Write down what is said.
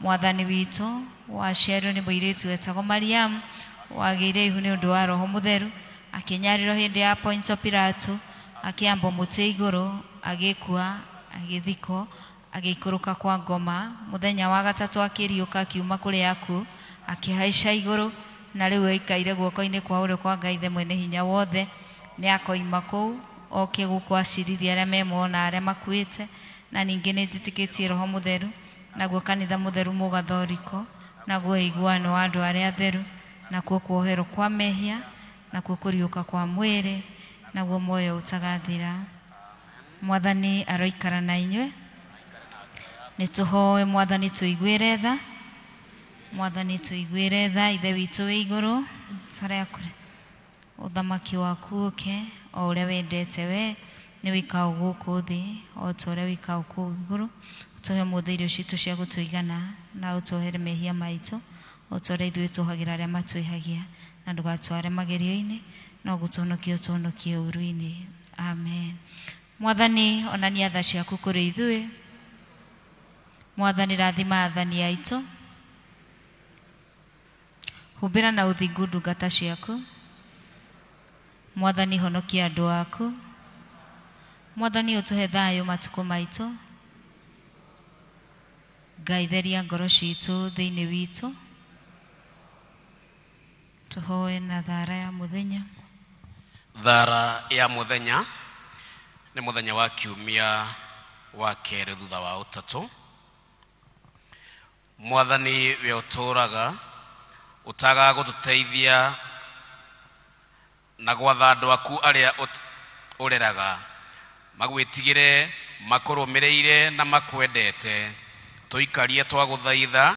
Mwathani witũ, waciarirwo nĩ mũirĩtu wetagwo Mariamu, wagĩire ihu nĩ ũndũ wa Roho Mũtheru, akĩnyarirwo hĩndĩ ya Pontio Pilato, akĩambwo mũtĩ igũrũ, agĩkua, agĩthikwo, agĩikũrũka kwa ngoma, mũthenya wa gatatũ akĩriũka akiuma kũrĩ akuũ, akĩhaica igũrũ, na rĩu aikaire guoko-inĩ kwa ũrĩo kwa Ngai Ithe Mwene Hinya Wothe, nĩakoima kũu, oke gũkũ acirithie arĩa me muoyo na arĩa makuĩte, na ningĩ nĩnjĩtĩkĩtie Roho Mũtheru, Naguo kanitha mũtheru mũgathoriko, naguo ũiguano wa andũ arĩa atheru, nakuo kuoherwo kwa mehia, nakuo kũriũka kwa mwĩrĩ, naguo muoyo ũtagathira. Mwathani aroikara na inyuĩ. Nĩtũhoe Mwathani tũiguĩre tha. Mwathani tũiguĩre tha, Ithe witũ wĩ igũrũ, tũrĩa kũrĩ. Ũthamaki waku ũũke, o ũrĩa wendete wee, nĩ wĩkao gũkũ thĩ, o ta ũrĩa wĩkao kũu igũrũ. Ũtũhe ũmũthĩ irio citũ cia gũtũigana, na ũtũohere mehia maitũ, o ta ũrĩa ithuĩ tuohagĩra arĩa matwĩhagia. Na ndũgatware magerio-inĩ, no gũtũhonokia ũtũhonokie ũũru-inĩ. Amen. Mwathani, onania tha ciaku kũrĩ ithuĩ. Mwathani, rathima athani aitũ. Humbĩra na ũthingu ndungata ciaku. Mwathani honokia andũ aku. Mwathani ũtũhe thayũ matukũ maitũ. Ngai theria ngoro citũ thĩinĩ witũ. Tũhoe na thara ya mũthenya. Thara ya mũthenya nĩ mũthenya wa kiumia wa kerĩ thutha wa ũtatũ. mwathani we ũtũũraga ũtaga gũtũteithia na gwatha andũ aku arĩa ũt- ũreraga magwĩtigĩre makũrũmĩrĩire na makwendete tũikarie twagũthaitha